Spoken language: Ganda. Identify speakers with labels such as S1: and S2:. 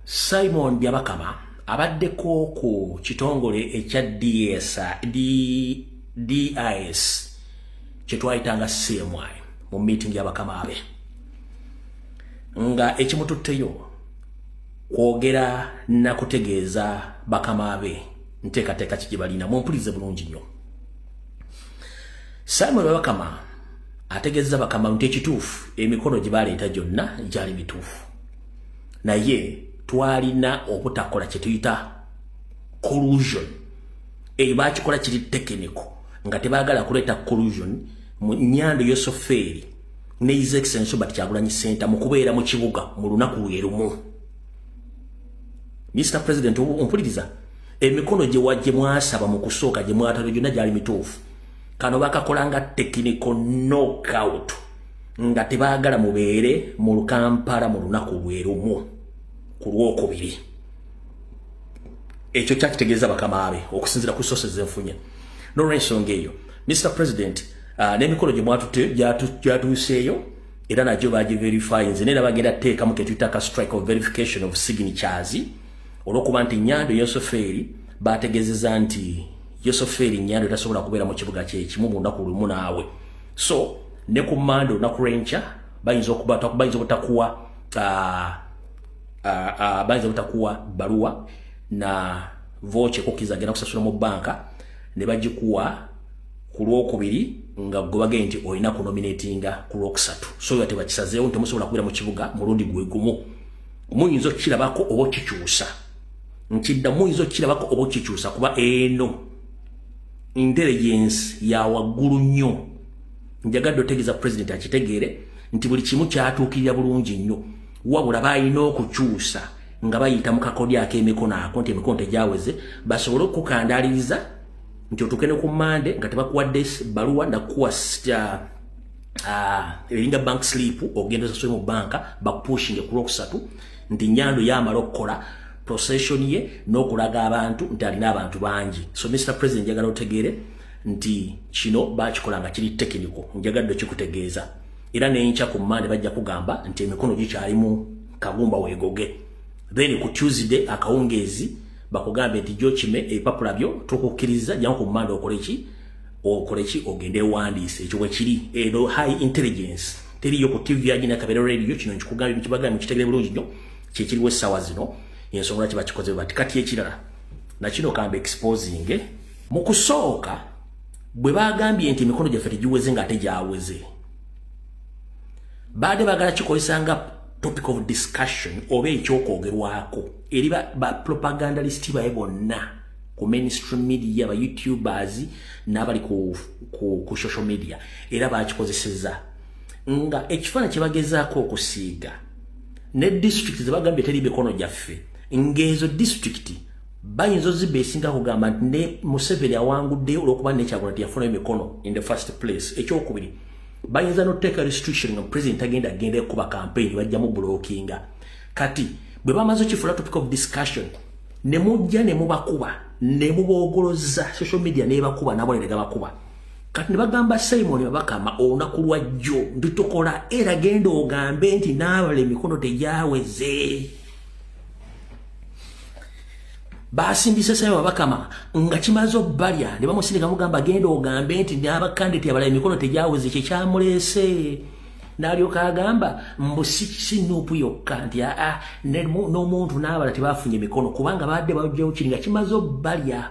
S1: Simon Byabakama abaddeko ku kitongole ekya DS DIS kyetwayitanga CMI mu meeting y'abakama be nga ekimututteyo kwogera na kutegeeza bakama be nteekateeka ki gye balina mumpulirize bulungi nnyo Simon Byabakama ategeeza bakama nti ekituufu emikono gye baleeta gyonna gyali mituufu naye twalina obutakola kyetuyita collusion eyo bakikola kiri tekiniko nga tebagala kuleeta collusion mu nyando yosofeeri ne his excellence but kyagulanyi senta mu kubeera mu kibuga mu lunaku lwerumu mr president ompuliriza emikono gye wajje mwasaba mu kusooka gye mwatalo gyonna gyali mituufu kano bakakolanga tekiniko knockout nga tebaagala mubeere mu lukampala mu lunaku lwe lumu ku lwokubiri ekyo kyakitegeeza bakama be okusinzira ku sose zenfunye nolwensonga eyo mr president uh, n'emikolo gye mwatute gyatuuseeyo era nagyo bagiverifyinze naye nabagenda teekamu ketuyita ka strike of verification of signatures olwokuba nti nyando yosofeeri bategezeza nti yosofeeri nyando tasobola kubeera mu kibuga kyekimu mu lunaku lumu naawe so ne ku mande olunaku lwenkya bayinza okubayinza obutakuwa uh, uh, uh, bayinza obutakuwa baluwa na voce kukiza agenda kusasula mu banka ne bagikuwa ku lwokubiri nga gobage nti olina kunominatinga ku lwokusatu so nga tebakisazeewo nti musobola kubeera mu kibuga mulundi gwe gumu muyinza okukirabako oba okikyusa nkidda muyinza okukirabako oba okikyusa kuba eno intelligence ya waggulu nnyo njagadde otegeeza president akitegeere nti buli kimu kyatuukirira bulungi nnyo wabula balina okukyusa nga bayita mu kakodyo ak'emikono ako nti emikono tegyaweze basobole okukukandaliriza nti otuuke ne ku mande nga tebakuwadde baluwa nakuwa Ah, elinga bank sleep ogenda saswe mu banka bakupushinge kulokusatu ndi nyando yamalo kola procession ye n'okulaga abantu nti alina abantu bangi so mr president njagala otegeere nti kino bakikola nga kiri tekiniko njagadde okikutegeeza era nenkya ku mande bajja kugamba nti emikono gikyalimu kagumba weegoge then ku tuesday akawungeezi bakugambe nti gyokime ebipapula byo tukukkiriza jjamu ku mande okoleki okoleki ogende ewandiise ekyo bwekiri eno high intelligence teriyo ku tv agina kabera radio kino nkikugambye mukibagambye kitegere bulungi nnyo kyekiriwo essaawa zino yensonga lwaki bakikoze bati kati ekirala nakino kamba exposing mu kusooka bwe baagambye nti emikono gyaffe tegiweze nga ate gyaweze baade baagala kikozesa nga topic of discussion oba ekyokwogerwako eri bapropagandalist ba baye bonna ku mainstream media ba youtubers n'abali ku, ku, ku social media era bakikozeseza nga ekifaana kyebagezaako okusiiga ne district zebagambye teri mikono gyaffe ngeezo district bayinza ozibba esinga kugamba nti ne museveni awanguddeyo olwokuba nekyagula nti yafunayo mikono in the first place ekyokubiri bayinza noteeka restriction nga president agenda agenda ekuba campaign bajjamu blockinga kati bwe bamaze okifula topic of discussion ne mujja ne mubakuba ne muboogolozza social media nebakuba nabonere gabakuba kati nebagamba simoni babakama olunaku lwa jjo nditukola era genda ogambe nti naabala emikono tegyaweze basindise simoni babakama nga kimaze obbalya ne bamusindika mugamba genda ogambe nti nabakande tyabala emikono tegyaweze kyekyamuleese nalyoka agamba mbu si nuupu yokka nti aa ah, ah, n'omuntu n'abala tebafunye mikono kubanga baadde bajjawo kiri nga kimaze obbalya